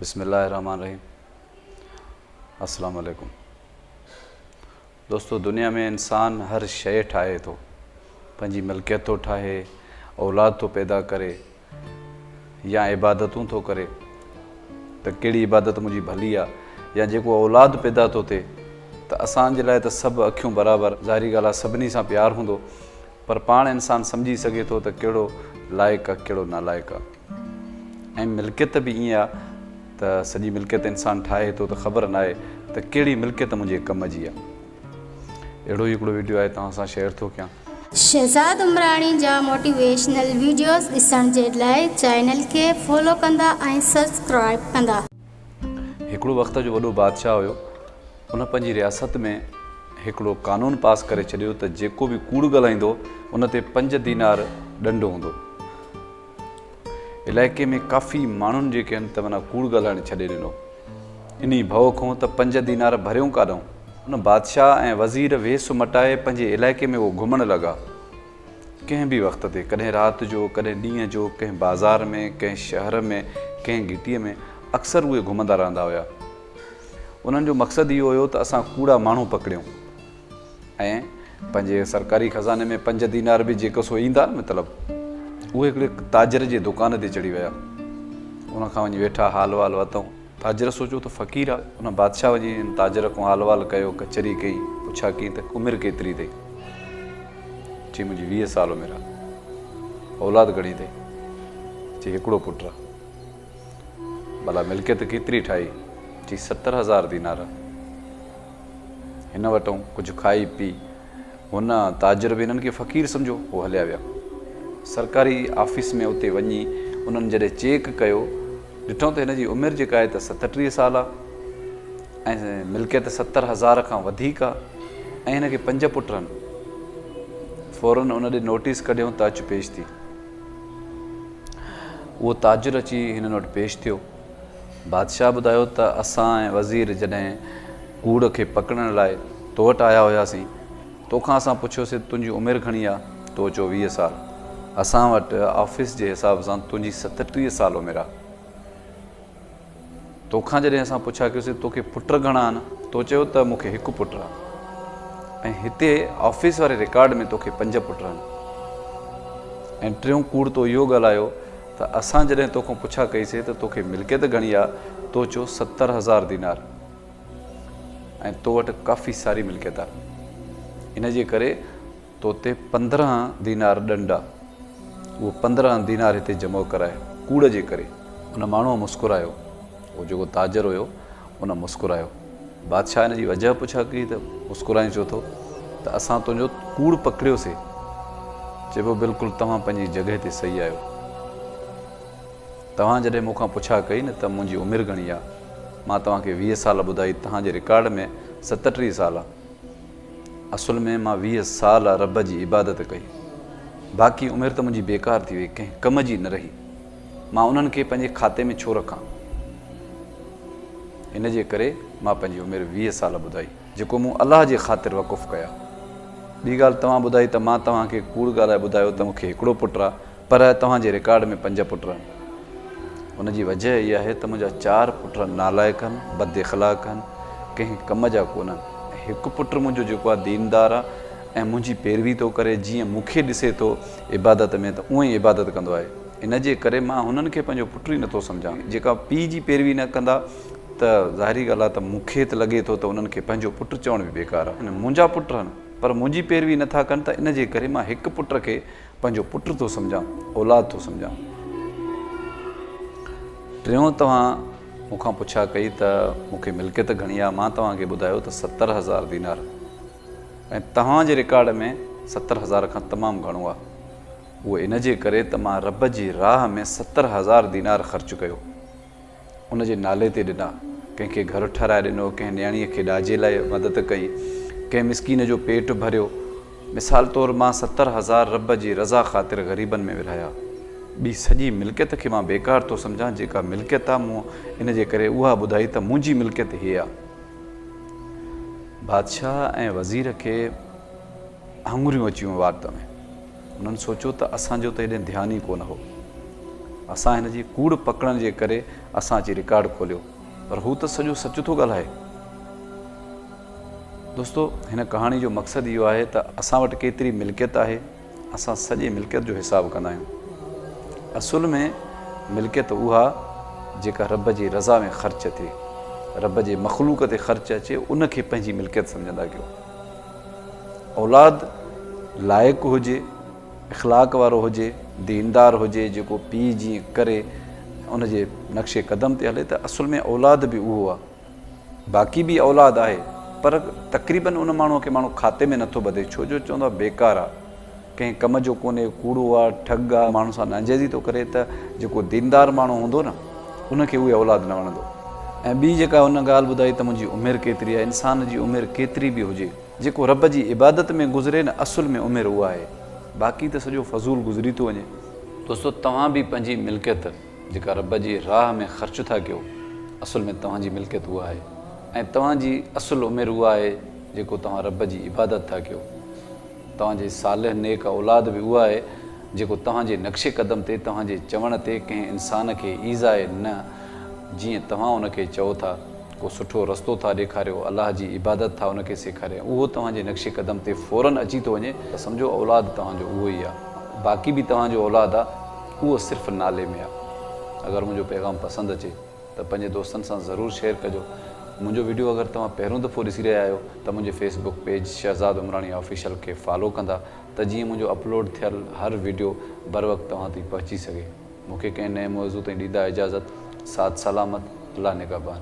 بسم الله الرحمٰن الرحيم السلام عليڪم دوستو دنيا ۾ انسان هر شئي ٺاهي ٿو پنهنجي ملڪيت ٿو ٺاهي اولاد ٿو پيدا ڪري يا عبادتون ٿو ڪري ته ڪهڙي عبادت منهنجي ڀلي آ يا جيڪو اولاد پيدا ٿو ٿئي ته اسان جي لاء ته سڀ اکيون برابر ظاهري ڳالهه آ سڀني سان پيار هوندو پر پاڻ انسان سمجهي سگهي ٿو ته ڪهڙو لائق آ ڪهڙو نالائق آ ۽ ملڪيت به ائين آ ته سڄي ملڪيت انسان ٺاهي ٿو ته خبر ناهي ته ڪهڙي ملڪيت منهنجي ڪم جي آ. اهڙو ئي هڪڙو وڊيو آهي توهان سان شيئر ٿو ڪيان. شهزاد عمراڻي جا موٽيويشنل ويڊيوز ڏسڻ جي لاء چينل کي فالو ڪندا ۽ سبسڪرائب ڪندا. هڪڙو وقت جو وڏو بادشاهه هيو ان پنهنجي رياست ۾ هڪڙو قانون پاس ڪري ڇڏيو ته جيڪو به ڪوڙ ڳالهائيندو ان تي پنج دينار ڏنڊ هوندو. علائقي ۾ ڪافي ماڻهن جيڪي ان ته معنيٰ ڪوڙ ڳالهائڻ ڇڏي ڏنو. انهي ڀؤ کون ته پنج دينار ڀريون ڪاڏئون. ان بادشاهه ۽ وزير ويس مٽائي پنهنجي علائقي ۾ اهو گهمڻ لڳا. ڪنهن به وقت تي، ڪڏهن رات جو، ڪڏهن ڏينهن جو، ڪنهن بازار ۾، ڪنهن شهر ۾، ڪنهن گهٽيء ۾، اڪثر اهي گهمندا رهندا هيا. انهن جو مقصد اهو هيو ته اسان ڪوڙا ماڻهو پڪڙيون. ۽ پنهنجي سرڪاري خزاني ۾ پنج دينار به جيڪو سو ايندا نه مطلب اهي هڪڙي تاجر جي دڪان تي چڙهي ويا ان کان وڃي ويٺا حال وال وتئون تاجر سوچيو ته فقير آ ان بادشاهه وڃي ان تاجر کان حال وال ڪيو ڪچهري ڪئي پڇا ڪئي ته عمر ڪيتري اٿئي چي منهنجي ويهه سال عمر آ اولاد گهڻي اٿئي چي هڪڙو پٽ آ ڀلا ملڪيت ڪيتري ٺاهي چي ستر هزار دينار هن وٽئون ڪجهه کائي پي. هن تاجر به هنن کي فقير سمجهيو. هو هليا ويا. سرڪاري آفيس ۾ اتي وڃي انهن جڏهن چيڪ ڪيو، ڏٺئون ته هن جي عمر جيڪا آهي ته ستٽيهه سال آ ۽ ملڪيت ستر هزار کان وڌيڪ آ ۽ هن کي پنج پٽ هن. فورن ان ڏي نوٽيس ڪڍيئون ته اچ پيش ٿي. اهو تاجر اچي هنن وٽ پيش ٿيو. بادشاهه ٻڌايو ته اسان ۽ وزير جڏهن ڪوڙ کي پڪڙڻ لاء تو وٽ آيا هياسين، تو کان اسان پڇيوسين ته تنهنجي عمر گهڻي آ؟ تو چيو ويهه سال. اسان وٽ آفيس جي حساب سان تنهنجي ستٽيهه سال عمر آ. تو کان جڏهن اسان پڇا ڪيوسين توکي پٽ گهڻا آهن؟ تو چيو ته مون کي هڪ پٽ آ ۽ هتي آفيس واري رڪارڊ ۾ توکي پنج پٽ آهن ۽ ٽيون ڪوڙ تو اهو ڳالهايو ته اسان جڏهن توکان پڇا ڪئيسي ته توکي ملڪيت گهڻي آ؟ تو چيو ستر هزار دينار ۽ تو وٽ ڪافي ساري ملڪيت آ ان جي ڪري تو تي پندرهن دينار ڏنڊ آ اهو پندرهن دينار هتي جمع ڪرائي ڪوڙ جي ڪري. ان ماڻهوء مسڪرايو هو جيڪو تاجر هيو ان مسڪرايو. بادشاهه ان جي وجهه پڇا ڪئي ته مسڪرائين ڇو ٿو ته اسان تنهنجو ڪوڙ پڪڙيوسي. چئبو بلڪل توهان پنهنجي جڳهه تي صحيح آهيو. توهان جڏهن مون کان پڇا ڪئي نه ته منهنجي عمر گهڻي آ مان توهان کي ويهه سال ٻڌائي توهان جي رڪارڊ ۾ ستٽيهه سال آ. اصل ۾ مان ويهه سال رب جي عبادت ڪئي باقي عمر ته منهنجي بيڪار ٿي وئي ڪنهن ڪم جي نه رهي. مان انهن کي پنهنجي کاتي ۾ ڇو رکان؟ ان جي ڪري مان پنهنجي عمر ويهه سال ٻڌائي، جيڪو مون الله جي خاطر وقف ڪيا. ٻي ڳالهه توهان ٻڌائي ته مان توهان کي ڪوڙ ڳالهائي ٻڌايو ته مون کي هڪڙو پٽ آ، پر توهان جي رڪارڊ ۾ پنج پٽ آهن. ان جي وجهه اها آهي ته منهنجا چار پٽ نالائق آهن، بد اخلاق آهن، ڪنهن ڪم جا ڪونه آهن ۽ هڪ پٽ منهنجو جيڪو آ ديندار آ ۽ منهنجي پيروي ٿو ڪري، جيئن مون کي ڏسي ٿو عبادت ۾ ته اونئي عبادت ڪندو آهي، ان جي ڪري مان هنن کي پنهنجو پٽ ئي نٿو سمجهان، جيڪا پيء جي پيروي نه ڪندا ته ظاهري ڳالهه آهي ته مون کي ته لڳي ٿو ته انهن کي پنهنجو پٽ چوڻ به بيڪار آهي. منهنجا پٽ آهن پر منهنجي پيروي نٿا ڪن ته ان جي ڪري مان هڪ پٽ کي پنهنجو پٽ ٿو سمجهان، اولاد ٿو سمجهان. ٽيون توهان مون کان پڇا ڪئي ته مون کي ملڪيت گهڻي آهي، مان توهان کي ٻڌايو ته ستر هزار دينار ۽ توهان جي رڪارڊ ۾ ستر هزار کان تمام گهڻو آهي. اهو ان جي ڪري ته مان رب جي راهه ۾ ستر هزار دينار خرچ ڪيو. ان جي نالي تي ڏنا. ڪنهن کي گهر ٺهرائي ڏنو، ڪنهن نياڻيء کي ڏاجي لاء مدد ڪئي، ڪنهن مسڪين جو پيٽ ڀريو. مثال طور مان ستر هزار رب جي رضا خاطر غريبن ۾ ورهايا. ٻي سڄي ملڪيت کي مان بيڪار ٿو سمجهان، جيڪا ملڪيت آهي مون ان جي ڪري اها ٻڌائي ته منهنجي ملڪيت هيء آهي. بادشاهه ۽ وزير کي هڱريون اچي ويون وات ۾ انهن سوچيو ته اسان جو ته هيڏي ڌيان ئي ڪونه هو اسان هن جي ڪوڙ پڪڙڻ جي ڪري اسان اچي رڪارڊ کوليو پر هو ته سڄو سچ ٿو ڳالهائي دوستو هن ڪهاڻي جو مقصد اهو آهي ته اسان وٽ ڪيتري ملڪيت آهي اسان سڄي ملڪيت جو حساب ڪندا آهيون. اصل ۾ ملڪيت اها جيڪا رب جي رضا ۾ خرچ ٿئي، رب جي مخلوق تي خرچ اچي ان کي پنهنجي ملڪيت سمجهندا ڪيو. اولاد لائق هجي، اخلاق وارو هجي، ديندار هجي جيڪو پيء جيئن ڪري ان جي نقش قدم تي هلي ته اصل ۾ اولاد به اهو آهي. باقي به اولاد آهي پر تقريبن ان ماڻهو کي ماڻهو کاتي ۾ نٿو ٻڌي ڇو جو چوندو آهي بيڪار آ ڪنهن ڪم جو ڪونهي ڪوڙو آ ٺڳ آ ماڻهن سان ناجائزي ٿو ڪري ته جيڪو ديندار ماڻهو هوندو نه ان کي اهي اولاد نه وڻندو ۽ ٻي جيڪا هن ڳالهه ٻڌائي ته منهنجي عمر ڪيتري آهي انسان جي عمر ڪيتري به هجي جيڪو رب جي عبادت ۾ گذري نه اصل ۾ عمر اها آهي باقي ته سڄو فضول گذري ٿو وڃي. دوستو توهان به پنهنجي ملڪيت. جيڪا رب جي راهه ۾ خرچ ٿا ڪيو، اصل ۾ توهان جي ملڪيت اها آهي ۽ توهان جي اصل عمر اها آهي جيڪو توهان رب جي عبادت ٿا ڪيو. توهان جي صالح نيڪ اولاد به اها آهي جيڪو توهان جي نقش قدم تي توهان جي چوڻ تي ڪنهن انسان کي ايذاء نه جيئن توهان ان کي چئو ٿا ڪو سٺو رستو ٿا ڏيکاريو الله جي عبادت ٿا ان کي سيکارين اهو توهان جي نقش قدم تي فورن اچي ٿو وڃي ته سمجهو اولاد توهان جو اهو ئي آهي باقي به توهان جو اولاد آهي. اهو صرف نالي ۾ آ. اگر منهنجو پيغام پسند اچي ته پنهنجي دوستن سان ضرور شيئر ڪجو. منهنجو وڊيو اگر توهان پهريون دفعو ڏسي رهيا آهيو ته منهنجي Facebook page Shahzad Umrani official کي فالو ڪندا ته جيئن منهنجو اپلوڊ ٿيل هر وڊيو بروقت توهان تائين پهچي سگهي. مونکي ڪنهن نئين موضوع تائين ڏيندا اجازت. سعد سلامت. الله نگهبان.